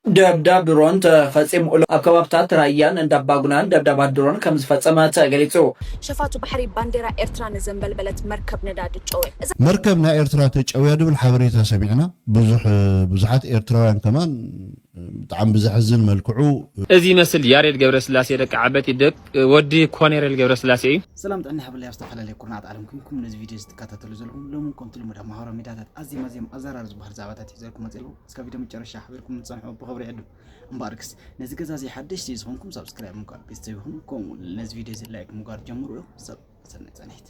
ደብዳብ ድሮን ተፈፂሙሉ ኣብ ከባብታት ራያን እንዳባጉናን ደብዳባት ድሮን ከም ዝፈፀመ ተገሊፁ። ሸፋቱ ባሕሪ ባንዴራ ኤርትራ ንዘንበልበለት መርከብ ነዳዲ ጨውያ። እዛ። መርከብ ናይ ኤርትራ ተጨውያ ዝብል ሓበሬታ ሰሚዕና። ብዙሕ ብዙሓት ኤርትራውያን ከማን ብጣዕሚ ብዘሕዝን መልክዑ። እዚ ይመስል ያሬድ ገብረስላሴ ደቂ ዓበቲ ደቂ ወዲ ኮኔሬል ገብረስላሴ እዩ። ሰላም ጥዕና ይሃበለይ ኣብ ዝተፈላለየ ኩርናዓት ዓለም ኩንኩም ነዚ ቪድዮ እዚ ትከታተሉ ዘለኹም ሎሚ እውን ከምቲ ልሙድ ኣብ ማህበራዊ ሚድያታት ኣዝዮም ኣዝዮም ኣዘራር ዝበሃሉ ዛዕባታት ይዘልኩም መፅየ ኣለኹ እስከ ቪድዮ መጨረሻ ሓቢርኩም ንፀንሑ ብኽብሪ ይዕዱ እምበኣርክስ ነዚ ገዛ እዚ ሓደሽቲ እዩ ዝኾንኩም ሳብስክራይብ ምግባር ቤተሰብ ይኹኑ ከምኡ እውን ነዚ ቪድዮ እዚ ላይክ ምግባር ጀምሩ ሰናይ ፃንሒት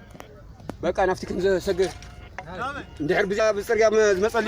በቃ ናፍቲ ከም ዘሰገ እንድሕር ብዛ ብፅርግያ ዝመፀሉ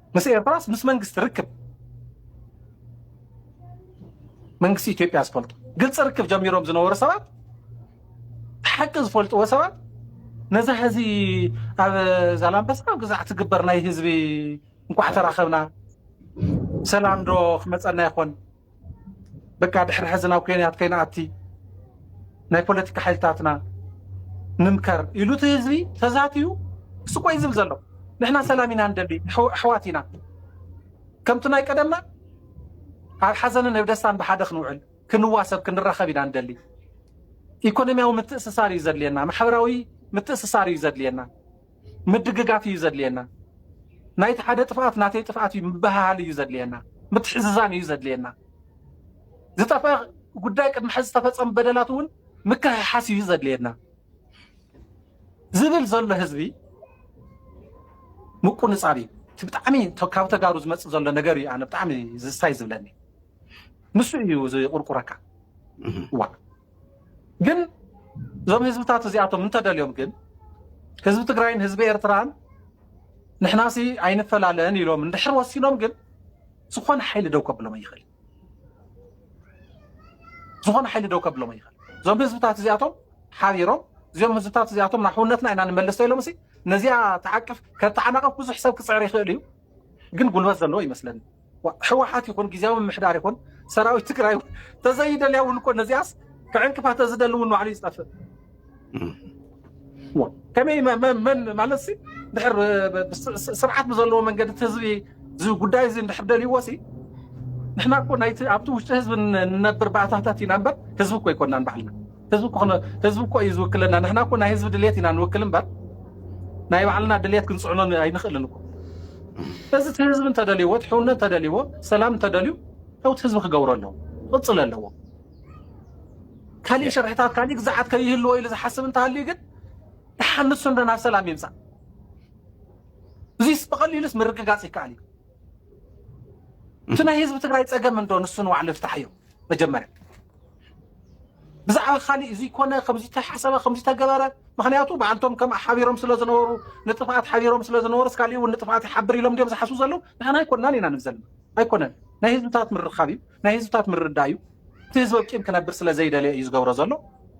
ምስ ኤርትራስ ምስ መንግስቲ ርክብ መንግስቲ ኢትዮጵያ ዝፈልጦ ግልፂ ርክብ ጀሚሮም ዝነበሩ ሰባት ሓቂ ዝፈልጥዎ ሰባት ነዛ ህዚ ኣብ ዛላምበሳ ኣብ ግዛዕ ትግበር ናይ ህዝቢ እንኳዕ ተራኸብና ሰላም ዶ ክመፀና ይኾን በቃ ድሕሪ ሕዚ ናብ ኩናት ከይንኣቲ ናይ ፖለቲካ ሓይልታትና ንምከር ኢሉ እቲ ህዝቢ ተዛትዩ ስቆ እዩ ዝብል ዘሎ ንሕና ሰላም ኢና ንደሊ ኣሕዋት ኢና ከምቲ ናይ ቀደምና ኣብ ሓዘንን ኣብ ደስታን ብሓደ ክንውዕል ክንዋሰብ ክንራኸብ ኢና ንደሊ ኢኮኖሚያዊ ምትእስሳር እዩ ዘድልየና ማሕበራዊ ምትእስሳር እዩ ዘድልየና ምድግጋፍ እዩ ዘድልየና። ናይቲ ሓደ ጥፍኣት ናተይ ጥፍኣት እዩ ምብህሃል እዩ ዘድልየና። ምትሕዝዛን እዩ ዘድልየና። ዝጠፍአ ጉዳይ ቅድሚ ሕዚ ዝተፈጸሙ በደላት እውን ምክሕሓስ እዩ ዘድልየና ዝብል ዘሎ ህዝቢ ምቁንጻብ እዩ። እቲ ብጣዕሚ ካብ ተጋሩ ዝመጽእ ዘሎ ነገር እዩ ኣነ ብጣዕሚ ዝስታይ ዝብለኒ ንሱ እዩ ዝቁርቁረካ ዋ ግን እዞም ህዝብታት እዚኣቶም እንተደልዮም ግን ህዝቢ ትግራይን ህዝቢ ኤርትራን ንሕናሲ ኣይንፈላለን ኢሎም እንድሕር ወሲኖም ግን ዝኾነ ሓይሊ ደው ከብሎም ይኽእል ዝኾነ ሓይሊ ደው ከብሎም ይኽእል እዞም ህዝብታት እዚኣቶም ሓቢሮም እዚኦም ህዝብታት እዚኣቶም ናብ ሕውነትና ኢና ንመልስ ኢሎም ሲ ነዚኣ ተዓቅፍ ከተዓናቕፍ ብዙሕ ሰብ ክፅዕር ይኽእል እዩ ግን ጉልበት ዘለዎ ይመስለኒ ሕወሓት ይኹን ግዜያዊ ምሕዳር ይኹን ሰራዊት ትግራይ እውን ተዘይደልያ እውን እኮ ነዚኣስ ክዕንቅፋ ተዝደሊ እውን ባዕሉ ይዝጠፍእ ከመይ መን ማለት ሲ ድሕር ስርዓት ብዘለዎ መንገዲ እቲ ህዝቢ እዚ ጉዳይ እዚ እንድሕር ደልይዎ ሲ ንሕና እኮ ናይቲ ኣብቲ ውሽጢ ህዝቢ ንነብር ባእታታት ኢና እምበር ህዝቢ እኮ ኣይኮናን ባዕልና ህዝቢ እኮ ክነ- ህዝቢ እኮ እዩ ዝውክለና ንሕና እኮ ናይ ህዝቢ ድሌት ኢና ንውክል እምበር ናይ ባዕልና ድሌት ክንፅዕኖ ን- ኣይንኽእልን እኮ እዚ እቲ ህዝቢ እንተደልይዎ እቲ ሕውነት እንተደልይዎ ሰላም እንተደልዩ ያው እቲ ህዝቢ ክገብሮ ኣለዎ ክቕፅል ኣለዎ ካሊእ ሸርሕታት ካሊእ ግዛዓት ከይህልዎ ኢሉ ዝሓስብ እንተሃልዩ ግን ድሓን ንሱ እንዶ ናብ ሰላም ይምፃእ እዚስ ብቐሊሉስ ምርግጋፅ ይከኣል እዩ እቲ ናይ ህዝቢ ትግራይ ፀገም እንዶ ንሱ ንባዕሉ ይፍታሕ እዩ መጀመርያ ብዛዕባ ካሊእ እዚ ኮነ ከምዚ ተሓሰበ ከምዚ ተገበረ ምክንያቱ ብኣንቶም ከም ሓቢሮም ስለ ዝነበሩ ንጥፍኣት ሓቢሮም ስለ ዝነበሩስ ካሊእ እውን ንጥፍኣት ይሓብር ኢሎም ድዮም ዝሓስቡ ዘለው ንሕና ኣይኮናን ኢና ንብል ዘለና ኣይኮነን ናይ ህዝብታት ምርኻብ እዩ ናይ ህዝብታት ምርዳእ እዩ እቲ ህዝቢ ቂም ክነብር ስለ ዘይደለየ እዩ ዝገብሮ ዘሎ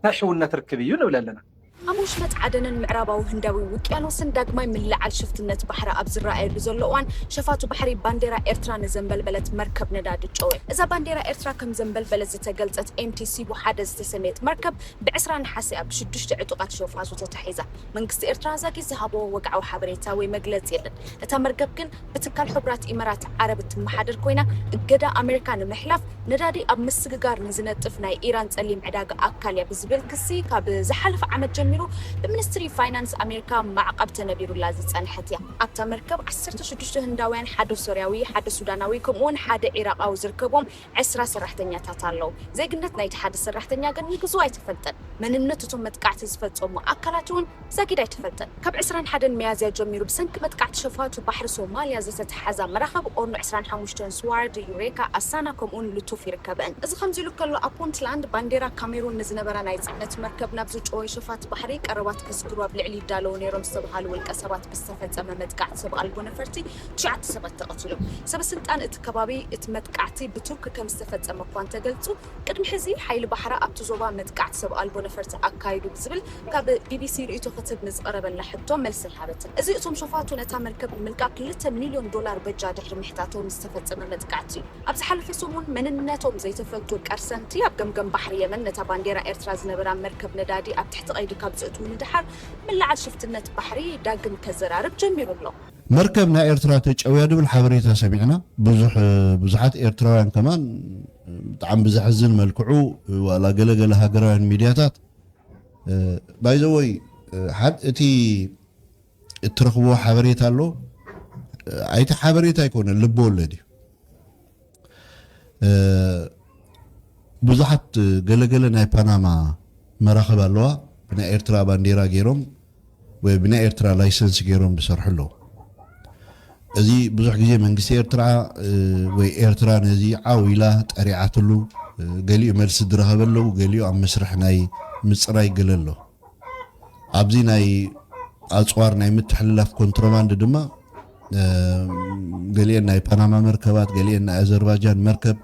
ናይ ሕውነት ርክብ እዩ ንብል ኣለና ኣብ ወሽመጥ ዓደንን ምዕራባዊ ህንዳዊ ውቅያኖስን ዳግማይ ምልዕዓል ሽፍትነት ባሕሪ ኣብ ዝረኣየሉ ዘሎ እዋን፣ ሸፋቱ ባሕሪ ባንዴራ ኤርትራ ንዘንበልበለት መርከብ ነዳዲ ጨወ። እዛ ባንዴራ ኤርትራ ከም ዘንበልበለት ዝተገልጸት ኤምቲ ሲቡ ሓደ ዝተሰምየት መርከብ፣ ብዕስራ ነሓሰ'ያ ብሽዱሽተ ዕጡቓት ሸፋቱ ተታሒዛ። መንግስቲ ኤርትራ ዛጊት ዝሃቦ ወግዓዊ ሓበሬታ ወይ መግለጺ የለን። እታ መርገብ ግን፣ ብትካል ሕቡራት ኢመራት ዓረብ እትመሓደር ኮይና፣ እገዳ ኣመሪካ ንምሕላፍ ነዳዲ ኣብ ምስግጋር ንዝነጥፍ ናይ ኢራን ጸሊም ዕዳጋ ኣካል እያ ብዝብል ክሲ ካብ ዝሓለፈ ዓመት ጀሚሩ ብሚኒስትሪ ፋይናንስ ኣመሪካ ማዕቐብ ተነቢሩላ ዝጸንሐት እያ። ኣብታ መርከብ ዓሰርተ ሽዱሽተ ህንዳውያን፣ ሓደ ሶርያዊ፣ ሓደ ሱዳናዊ ከምኡ'ውን ሓደ ዒራቓዊ ዝርከብዎም ዕስራ ሰራሕተኛታት ኣለው። ዜግነት ናይቲ ሓደ ሰራሕተኛ ግን ንግዝኡ ኣይተፈልጠን። መንነት እቶም መጥቃዕቲ ዝፈጸሙ ኣካላት'ውን ብዛጊድ ኣይተፈልጠን። ካብ ዕስራን ሓደን ሚያዝያ ጀሚሩ ብሰንኪ መጥቃዕቲ ሸፋቱ ባሕሪ ሶማልያ ዘተተሓዛ መራኸቢ ኦርኖ ዕስራን ሓሙሽተን፣ ስዋርዲ፣ ዩሬካ፣ ኣሳና ከምኡ'ውን ሉቱፍ ይርከበእን። እዚ ከምዚ'ሉ ከሎ ኣብ ፑንትላንድ ባንዴራ ካሜሩን ንዝነበራ ናይ ጽዕነት መርከብ ናብ ዝጨወዩ ሸፋቱ ባሕሪ ቀረባት ከስግሩ ኣብ ልዕሊ ይዳለዉ ነይሮም ዝተብሃሉ ውልቀሰባት ብዝተፈጸመ መጥቃዕቲ ሰብ ኣልቦ ነፈርቲ ትሽዓተ ሰባት ተቐቲሎም። ሰበስልጣን እቲ ከባቢ እቲ መጥቃዕቲ ብቱርኪ ከምዝተፈጸመ እኳ እንተገልጹ፣ ቅድሚ ሕዚ ሓይሊ ባሕራ ኣብቲ ዞባ መጥቃዕቲ ሰብ ኣልቦ ነፈርቲ ኣካይዱ ብዝብል ካብ ቢቢሲ ርእይቶ ክትህብ ንዝቐረበላ ሕቶ መልሲ ኣይሃበትን። እዚ እቶም ሸፋቱ ነታ መርከብ ንምልቃቕ ክልተ ሚልዮን ዶላር በጃ ድሕሪ ምሕታቶም ዝተፈጸመ መጥቃዕቲ እዩ። ኣብ ዝሓለፈ ሰሙን መንነቶም ዘይተፈልጡ ቀርሰንቲ ኣብ ገምገም ባሕሪ የመን ነታ ባንዴራ ኤርትራ ዝነበራ መርከብ ነዳዲ ኣብ ትሕቲ ቀይዲ ካብ ዘእትዉ ንደሓር ምልዓል ሽፍትነት ባሕሪ ዳግም ከዘራርብ ጀሚሩ ኣሎ። መርከብ ናይ ኤርትራ ተጨውያ ድብል ሓበሬታ ሰሚዕና ብዙሕ ብዙሓት ኤርትራውያን ከማን ብጣዕሚ ብዘሕዝን መልክዑ ዋላ ገለ ገለ ሃገራውያን ሚድያታት ባይዘወይ ሓድ እቲ እትረኽብዎ ሓበሬታ ኣሎ ኣይቲ ሓበሬታ ኣይኮነ ልቢ ወለድ እዩ ብዙሓት ገለ ገለ ናይ ፓናማ መራኽብ ኣለዋ ብናይ ኤርትራ ባንዴራ ገይሮም ወይ ብናይ ኤርትራ ላይሰንስ ገይሮም ዝሰርሑ ኣለዉ እዚ ብዙሕ ግዜ መንግስቲ ኤርትራ ወይ ኤርትራ ነዚ ዓው ኢላ ጠሪዓትሉ ገሊኡ መልሲ ዝረኸበ ኣለዉ ገሊኡ ኣብ መስርሕ ናይ ምፅራይ ገለ ኣለዉ ኣብዚ ናይ ኣጽዋር ናይ ምትሕልላፍ ኮንትሮባንድ ድማ ገሊኤን ናይ ፓናማ መርከባት ገሊኤን ናይ ኣዘርባጃን መርከብ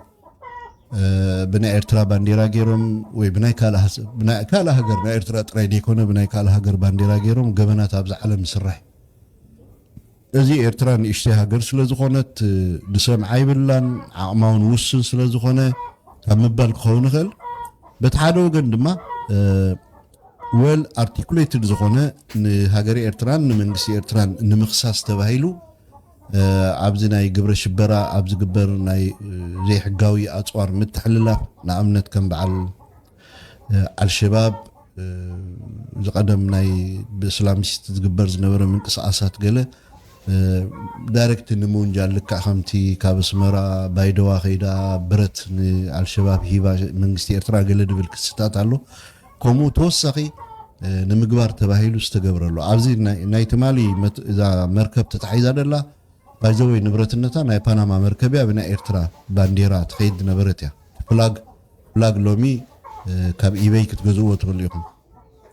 ብናይ ኤርትራ ባንዴራ ገይሮም ወይ ብናይ ካልእ ሃገር ናይ ኤርትራ ጥራይ ዘይኮነ ብናይ ካልእ ሃገር ባንዴራ ገይሮም ገበናት ኣብዚ ዓለም ዝስራሕ እዚ ኤርትራ ንእሽተይ ሃገር ስለ ዝኾነት ዝሰምዓ ይብላን ዓቕማውን ውሱን ስለ ዝኾነ ካብ ምባል ክኸውን ይኽእል። በቲ ሓደ ወገን ድማ ወል ኣርቲኩሌትድ ዝኾነ ንሃገረ ኤርትራን ንመንግስቲ ኤርትራን ንምኽሳስ ተባሂሉ ኣብዚ ናይ ግብረ ሽበራ ኣብ ዝግበር ናይ ዘይሕጋዊ ኣጽዋር ምትሕልላፍ ንኣብነት ከም በዓል ኣልሸባብ እዚ ቀደም ናይ ብእስላሚስት ዝግበር ዝነበረ ምንቅስቓሳት ገለ ዳይረክት ንምውንጃል ልክዕ ከምቲ ካብ ኣስመራ ባይደዋ ከይዳ ብረት ንኣልሸባብ ሂባ መንግስቲ ኤርትራ ገለ ድብል ክስታት ኣሎ ከምኡ ተወሳኺ ንምግባር ተባሂሉ ዝተገብረሉ ኣብዚ ናይ ትማሊ እዛ መርከብ ተታሒዛ ደላ ባይዘወይ ንብረትነታ ናይ ፓናማ መርከብ እያ ብናይ ኤርትራ ባንዴራ ትኸይድ ዝነበረት እያ ፍላግ ብላግ ሎሚ ካብ ኢበይ ክትገዝእዎ ትክእሉ ኢኩም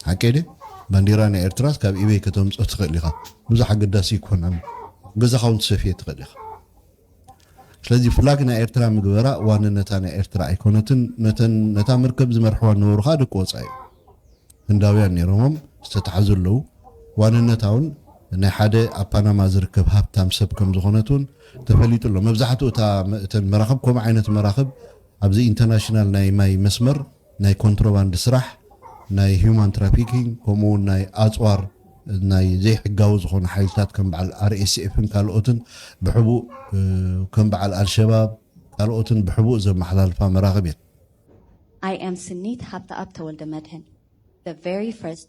ሓቀይ ድየ ባንዴራ ናይ ኤርትራስ ካብ ኢበይ ከተምጾ ትክእል ኢካ ብዙሕ ኣገዳሲ ኣይኮነን ኣብ ገዛካ ውን ትሰፍዬ ትክእል ኢካ ስለዚ ፍላግ ናይ ኤርትራ ምግበራ ዋንነታ ናይ ኤርትራ ኣይኮነትን ነተን ነታ መርከብ ዝመርሕዋ ዝነበሩ ከኣ ደቂ ወጻኢ እዮም ህንዳውያን ነይሮሞም ዝተታሕዙ ኣለዉ ዋንነታ ውን ናይ ሓደ ኣብ ፓናማ ዝርከብ ሃብታም ሰብ ከም ዝኮነት ውን ተፈሊጡ ኣሎ መብዛሕትኡ እታ እተን መራክብ ከምኡ ዓይነት መራክብ ኣብዚ ኢንተርናሽናል ናይ ማይ መስመር ናይ ኮንትሮባንድ ስራሕ፣ ናይ ሂዩማን ትራፊኪንግ ከምኡ ውን ናይ ኣጽዋር ናይ ዘይሕጋዊ ዝኾኑ ሓይልታት ከም በዓል ኣርኤስኤፍን ካልኦትን ብሕቡእ ከም በዓል ኣልሸባብ ካልኦትን ብሕቡእ ዘመሓላልፋ መራኽብ እየን። I am ስኒት ሃብተኣብ ተወልደመድህን the very first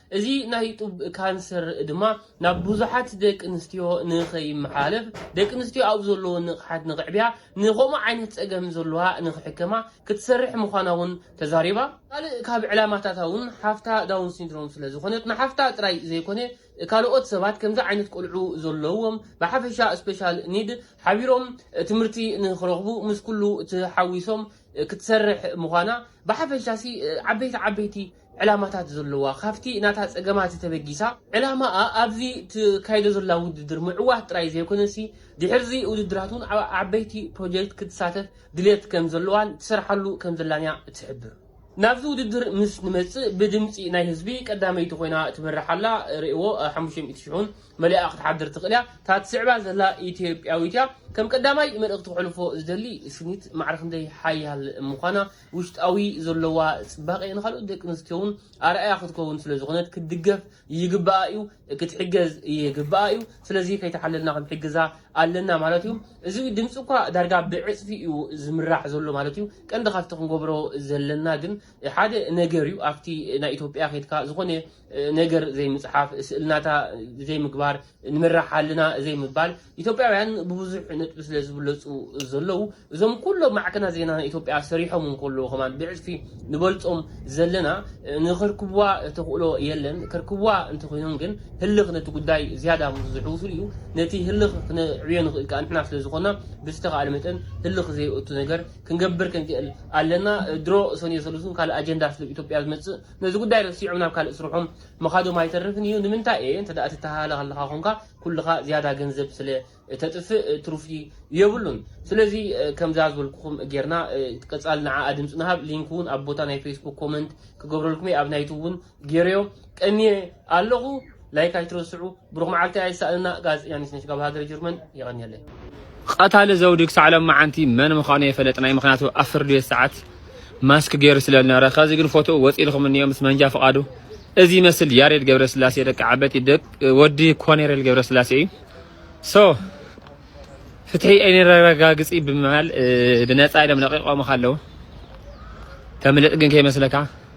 እዚ ናይ ጡብ ካንሰር ድማ ናብ ብዙሓት ደቂ ኣንስትዮ ንኸይመሓላለፍ ደቂ ኣንስትዮ ኣብ ዘለወን ንቕሓት ንኽዕብያ ንኸምኡ ዓይነት ፀገም ዘለዋ ንኽሕከማ ክትሰርሕ ምዃና እውን ተዛሪባ። ካልእ ካብ ዕላማታታ እውን ሓፍታ ዳውን ሲንድሮም ስለዝኾነት ንሓፍታ ጥራይ ዘይኮነ ካልኦት ሰባት ከምዚ ዓይነት ቆልዑ ዘለዎም ብሓፈሻ ስፔሻል ኒድ ሓቢሮም ትምህርቲ ንኽረኽቡ ምስ ኩሉ ተሓዊሶም ክትሰርሕ ምዃና ብሓፈሻሲ ዓበይቲ ዓበይቲ ዕላማታት ዘለዋ፣ ካብቲ ናታ ጸገማት ተበጊሳ ዕላማኣ ኣብዚ ትካይዶ ዘላ ውድድር ምዕዋት ጥራይ ዘይኮነሲ ድሕሪዚ ውድድራት'ውን ኣብ ዓበይቲ ፕሮጀክት ክትሳተፍ ድልየት ከም ዘለዋን ትሰርሓሉ ከም ዘላን'ያ ትሕብር። ናብዚ ውድድር ምስ ንመጽእ ብድምጺ ናይ ህዝቢ ቀዳመይቲ ኮይና ትመርሕ ኣላ፣ ርእይዎ ሓሙሽተ ሚእቲ ሽሕ'ውን መሊኣ ክትሓድር ትኽእል'ያ፣ እታ ትስዕባ ዘላ ኢትዮጵያዊት'ያ። ከም ቀዳማይ መልእኽቲ ከሕልፎ ዝደሊ ስኒት ማዕረ ክንደይ ሓያል ምዃና፣ ውሽጣዊ ዘሎዋ ጽባቄ ንካልኦት ደቂ ኣንስትዮ ውን ኣርኣያ ክትከውን ስለ ዝኮነት ክትድገፍ ይግባኣ ኢዩ ክትሕገዝ ይግባኣ ኢዩ ስለዚ ከይተሓለልና ክንሕግዛ ኣለና ማለት ኢዩ እዚ ድምጺ እኳ ዳርጋ ብዕጽፊ ኢዩ ዝምራሕ ዘሎ ማለት ኢዩ ቀንዲ ካብቲ ክንገብሮ ዘለና ግን ሓደ ነገር ኢዩ ኣብቲ ናይ ኢትዮጵያ ከድካ ዝኮነ ነገር ዘይምጽሓፍ፣ ስእልናታ ዘይምግባር፣ ንመራሕ ኣለና ዘይምባል፣ ኢትዮጵያውያን ብብዙሕ ነጥቢ ስለ ዝብለጹ ዘለዉ፣ እዞም ኩሎም ማዕከናት ዜና ናይ ኢትዮጵያ ሰሪሖም እንከለዉ ከማን ብዕጽፊ ንበልጾም ዘለና፣ ንከርክቡዋ ተኽእሎ የለን። ከርክቡዋ እንተኾይኖም ግን ህልኽ ነቲ ጉዳይ ዝያዳ ምስ ዘሕውሱሉ እዩ። ነቲ ህልኽ ክነዕብዮ ንኽእል ከኣ ንሕና ስለ ዝኾና ብዝተኻእለ መጠን ህልኽ ዘየእቱ ነገር ክንገብር ክንክእል ኣለና። ድሮ ሰኑየ ሰሉስን ካልእ ኣጀንዳ ስለ ኢትዮጵያ ዝመጽእ ነዚ ጉዳይ ረሲዖም ናብ ካልእ ስርሖም ምኻዶም ኣይተርፍን እዩ። ንምንታይ እየ እንተ ትተሃለኽ ኣለኻ ኮንካ ኩልኻ ዝያዳ ገንዘብ ስለ እተጥፍእ ትርፊ የብሉን። ስለዚ ከምዛ ዝበልኩኹም ጌርና ቀጻሊ ንዓኣ ድምጺ ንሃብ። ሊንክ ውን ኣብ ቦታ ናይ ፌስቡክ ኮመንት ክገብረልኩም እየ ኣብ ናይቱብ ውን ጌረዮ ቀንየ ኣለኹ። ላይክ ኣይትረስዑ። ብሩኽ መዓልቲ ኣይሳእንና ጋዝ ያኒስ ነሽ ጋብ ሃገረ ጅርመን የቐንየለይ። ቐታሊ ዘውዲ ክሳዕ ሎምዓንቲ መን ምኻኑ የፈለጥናይ ምኽንያቱ ኣብ ፍርድቤት ሰዓት ማስክ ጌሩ ስለ ልነበረ ከዚ ግን ፎቶኡ ወጺልኹም እንዮ ምስ መንጃ ፍቓዱ እዚ ይመስል ያሬድ ገብረስላሴ ደቂ ዓበቲ ደቂ ወዲ ኮኔሬል ገብረስላሴ እዩ ሶ ፍትሒ ኣይነረጋግጺ ብምባል ብነጻ ኢሎም ለቂቖምኻ ኣለዉ ተምልጥ ግን ከይመስለካ